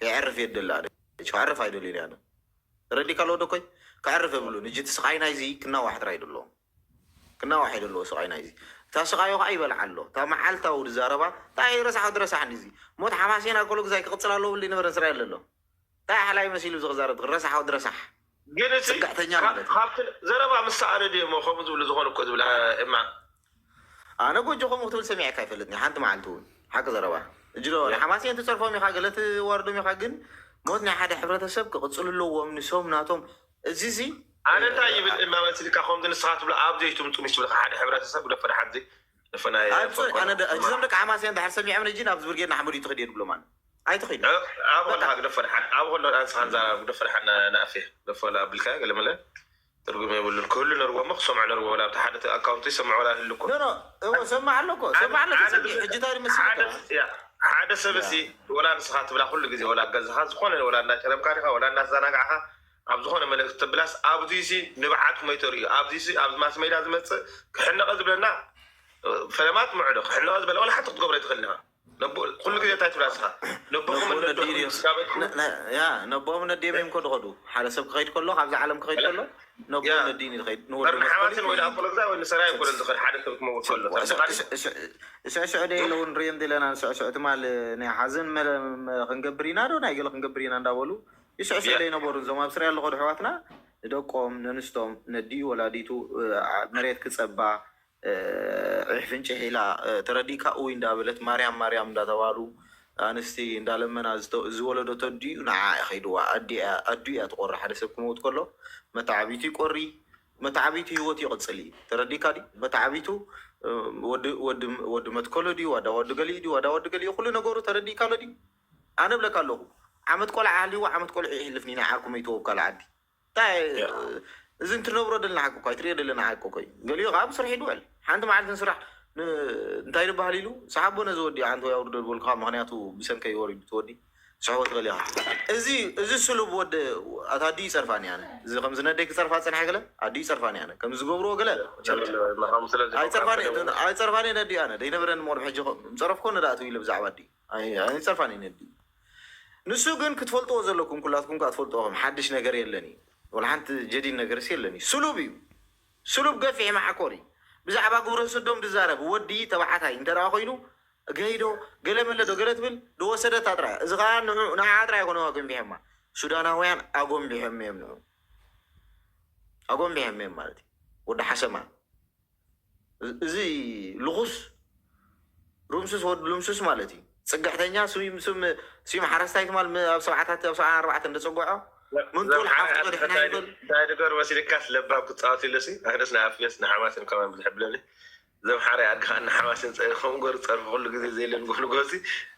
ከየዕርፍ የደሊ ኣነ ከዕርፍ ኣይደልዩን ኣነ ተረዲካ ኣለዎ ደኮይ ከዕርፍ የብሉን እጂ እቲ ስቃይ ናይዚ ክናዋሕ ጥራይ ደለዎ ክናዋሕ እዩ ደለዎ ስቃይ ናይዚ እታ ስቃዩ ከዓ ይበልዓ ኣሎ እታ መዓልታዊ ድዛረባ እንታይ ረሳሕ ወዲ ረሳሕ ንዚ ሞት ሓማሴና ኮሎ ግዛይ ክቅፅል ኣለዎ ብሊ ነበረ እስራኤል ዘሎ እንታይ ሓላይ መሲሉ ዝክዛረብ ረሳሕ ወዲ ረሳሕ ግን እቲ ጽግዕተኛ ማለት እዩ ካብቲ ዘረባ ምስ ሰኣነ ድየ እሞ ከምኡ ዝብሉ ዝኾኑ እኮ ዝብላ እማ ኣነ ጎጆ ከምኡ ክትብል ሰሚዐካ ኣይፈልጥን ሓንቲ መዓልቲ እውን ሓቂ ዘረባ እጅሎ ንሓማሴን ትፀርፎም ኢኻ ገለ ትዋርዶም ኢኻ ግን ሞት ናይ ሓደ ሕብረተሰብ ክቕፅሉ ኣለዎም ንሶም ናቶም እዚ እዚ ኣነ እንታይ ይብል እናመስልካ ከምዚ ንስኻ ትብሎ ኣብ ዘይትምጡ ምስ ዝብልካ ሓደ ሕብረተሰብ ግደፎ ድሓን እዚ ንፍናይ ኣነ ፈኮነ ደ- እዞም ደቂ ሓማሴን እንድሕር ሰሚዖም ነጂ ናብዚ ብርጌድ ንሓመዱ ይትኽድ እየ ንብሎም ኣነ ኣይትኽድ እዩ ኣብ በቃ ከለካ ግደፎ ድሓን ኣብ ከሎ ኣንስኻን ዛራ ግደፎ ድሓን ናእፌ ግደፎ ኣብልካዮ ገለ መለ ትርጉም የብሉን ክህሉ ነርዎ እሞ ክሰምዑ ነርዎ ወላ ኣብቲ ሓደ ኣካውንት ዝሰምዕ ወላ ይህሉ እኮ። ኖኖ እወ ዝሰምዕ ኣሎ እኮ ዝሰምዕ ኣሎ ተጸጊ ሕጂ እንታይ ኢሉ መሲልካ። ሓደ ሰብ እዚ ወላ ንስኻ ትብላ ኩሉ ግዜ ወላ ኣብ ገዛኻ ዝኾነ ወላ እንዳጨረምካ ዲኻ ወላ እንዳዛናጋዕካ ኣብ ዝኾነ መልእክቲ ተብላስ ኣብዚሲ ንብዓት ሞይ ተርእዩ ኣብዚሲ ኣብዚ ማስሜድያ ዝመጽእ ክሕነቐ ዝብለና ፈለማ ትምዕዶ ክሕነቐ ዝበለ ወላ ሓንቲ ክትገብሮ ኣይትኽእልን ኢኻ። ኩሉ ግዜ እንታይ ትብል ንስኻ ነቦኹም ነቦኦም ነዲኦም እዮም ከዱ ከዱ ሓደ ሰብ ክኸይድ ከሎ ካብዚ ዓለም ክኸይድ ከሎ ነቦኦም ነዲኡን እዩ ዝኸይድ ንወዱሓማትን ወይ ኣኮሎግዛ ወይ ንሰራ ይኮነን ዝኸድ ሓደ ሰብ ክመውት ከሎ ስዕስዑ ደይ ኣለዉ ንሪኦ እንዲለና ንስዕስዑ ትማል ናይ ሓዘን ክንገብር ኢና ዶ ናይ ገለ ክንገብር ኢና እንዳበሉ ይስዕስዑ ደይ ነበሩ እዞም ኣብ ስርያ ኣለኸዱ ኣሕዋትና ንደቆም ነንስቶም ነዲኡ ወላዲቱ መሬት ክፀባ ዒሕ ፍንጭሕ ኢላ ተረዲእካ ኡይ እንዳበለት ማርያም ማርያም እንዳተባሉ ኣንስቲ እንዳለመና ዝወለደቶ ኣዲኡ ንዓዓ እዩ ከይድዋ ኣዲኡ እያ ትቆሪ ሓደ ሰብ ክመውት ከሎ መታዓቢቱ ይቆሪ መታዓቢቱ ሂወቱ ይቅፅል እዩ ተረዲእካ ድዩ መታዓቢቱ ወዲ መትከሎ ድዩ ዋዳ ወዲ ገሊኡ ድዩ ዋዳ ወዲ ገሊኡ ኩሉ ነገሩ ተረዲእካ ኣሎ ድዩ ኣነ ብለካ ኣለኹ ዓመት ቆልዓ ሃልይዎ ዓመት ቆልዑ ይሕልፍኒ ናይ ዓርኩ መይትዎ ብ ካልእ ዓዲ እዚ እንትነብሮ ደለና ሓቂ እኮ ኣይትሪኦ ደለና ሓቂ እኮ እዩ ገሊኡ ከዓ ኣብ ስርሒቱ ይውዕል ሓንቲ መዓልቲ ንስራሕ እንታይ ድበሃል ኢሉ ሰሓቦ ነዚ ወዲ ሓንቲ ወይ ኣውርዶ ዝበልኩኻ ምክንያቱ ብሰንከይ ወሪዱ ትወዲ ስሕቦ ትበል ኢኻ እዚ እዚ ስሉብ ወዲ ኣታ ኣዲኡ ይፀርፋኒ ኣነ እዚ ከምዚ ነደይ ክፀርፋ ፀንሐ ገለ ኣዲኡ ይፀርፋኒ ኣነ ከምዚ ዝገብርዎ ገለ ኣይፀርፋኒ ኣይፀርፋኒ ነዲኡ ኣነ ደይነበረኒ ምቅርብ ሕጂ ምፀረፍኮ ንዳእትው ኢለ ብዛዕባ ኣዲኡ ኣይ ኣይጸፋን ይነዲ ንሱ ግን ክትፈልጥዎ ዘለኩም ኩላትኩም ከኣ ትፈልጥዎ ከም ሓድሽ ነገር የለን እዩ ወላ ሓንቲ ጀዲድ ነገርስ የለን እዩ ስሉብ እዩ ስሉብ ገፊሕ ማዓኮር እዩ ብዛዕባ ግብረ ስዶም ድዛረብ ወዲ ተባዓታይ እንተ ደኣ ኮይኑ ገይዶ ገለ መለ ዶ ገለ ትብል ድወሰደታ ጥራይ እዚ ከኣ ንዑ ንዓዓ ጥራይ ኣይኮነ ኣጎንቢሐማ ሱዳናውያን ኣጎንቢሐም እዮም ንዑ ኣጎንቢሐም እዮም ማለት እዩ ወዲ ሓሰማ እዚ ልኹስ ሩምሱስ ወድ ሉምሱስ ማለት እዩ ፅግዕተኛ ስዩም ስም ስዩም ሓረስታይ ትማል ም- ኣብ ሰብዓታት ኣብ ሰብዓ ኣርባዕተ እንደፀጎዖ ምንጡል ሓፍቱ ቀዲሕና ይብል እንታይ ድገር መሲልካስ ለባም ክፃወት ኢሉሲ ኣነስ ንኣፍዮስ ንሓማሴን ከማን ብዝሕብለለይ እዞም ሓራይ ኣድካ ንሓማሴን ፀሪፎም ገሩ ፀርፊ ኩሉ ግዜ ዘይለን ጎልጎሲ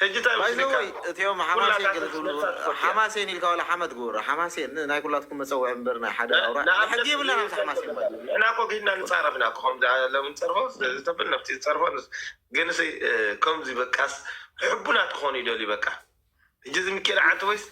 ሕጂ ታይ መስልካ ሓማሴን ኢልካ ዋላ ሓመድ ግበሮ ሓማሴን ናይ ኩላትኩም መጸውዒ እምበር ናይ ሓደ ኣውራ ሕጊ የብላን ኣብዚ ሓማሴን ባይ ንሕና እኮ ግድና ንጻረፍ ኢና እኮ ከምዚ ሎሚ ንጸርፎ ስለዚ ተብል ነፍቲ ዝጸርፎ ግን ከምዚ በቃስ ሕቡናት ክኾኑ ይደልዩ በቃ ሕጂ እዚ ምኪኤል ዓንተ ወይስ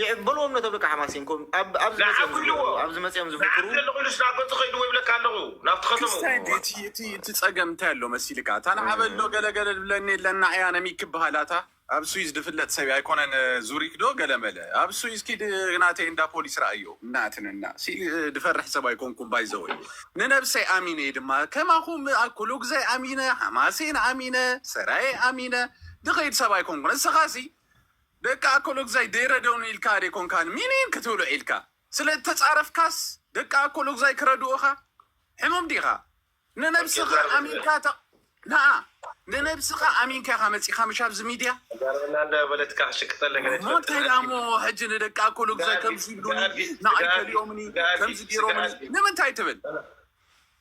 ይዕበልዎም ነቶም ደቂ ሓማሴን ኮም ኣብ ኣብዚ መጺኦም ንዓኹ ኢልዎ ዝገብሩ ኣብዚ መጺኦም ንዓኺ ዝፍክሩ ኣለኹ ኢሉስ ናብ ገጹ ከይድዎ ይብለካ ኣለኹ ናብቲ ከተምኡ። ክስታይ እንተ እቲ እቲ እቲ ጸገም እንታይ ኣሎ መሲልካ እታ ንዓበ ኣሎ ገለ ገለ ድብለኒ የለን ንዓያ ነሚክ ክብሃል ኣታ ኣብ ስዊዝ ድፍለጥ ሰብ ኣይኮነን ዙሪክ ዶ ገለ መለ ኣብ ስዊዝ ኪድ ናተይ እንዳ ፖሊስ ረኣዮ እናትንና ሲ ድፈርሕ ሰብ ኣይኮንኩን ባይዘወይ ንነብሰይ ኣሚነ እየ ድማ ከማኹም ኣኩሉ ግዛይ ኣሚነ ሓማሴን ኣሚነ ሰራየ ኣሚነ ድኸይድ ሰብ ኣይኮንኩን እስኻ ሲ ደቂ ኣኮሎጉዛይ ደይረደኡኒ ኢልካ ደይኮንካ ሚኒን ክትብሎ ዒልካ ስለ እተጻረፍካስ ደቂ ኣኮሎጉዛይ ክረድኡኻ ሕሙም ዲኻ ንነብስኻ ኣሚንካ ተ ናኣ ንነብስኻ ኣሚንካ ኢኻ መጺኻ ምሽ ኣብዚ ሚድያ ጋርበና እንዳ በለትካ ክሽቅጠለ ገለ እሞ እንታይ ትፈልጥ ደኣሞ ሕጂ ንደቂ ኣኮሎጉዛይ ከምዚ ይብሉኒ ንኣይ ከሊኦምኒ ከምዚ ገይሮምኒ ንምንታይ ትብል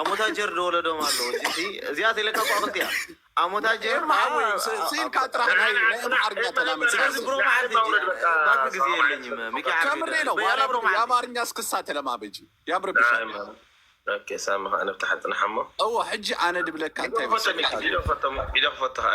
ኣሞታጀር ዶ ወለዶም ኣሎ ጅሲ እዚኣ ተለካ እኮ ኣክልቲ እያ ኣሞታጀር ስኢልካ ጥራሕ ናይ ኣምሓርኛ ተላመድ ስለዚ ብሮ መዓልቲ ባክ ግዜ የለኝም ሚኪ ዓርቢ ከምሬ ነው ያላ ብሮ የኣማርኛ እስክሳ ተለማመጂ ያምርብሻል ኦኬ ሳሚ ከኣ ነብቲ ሓጥንሓ እሞ እወ ሕጂ ኣነ ድብለካ እንታይ መሰልካ ቪድዮ ክፈቶ ቪድዮ ክፈቶ ከኣ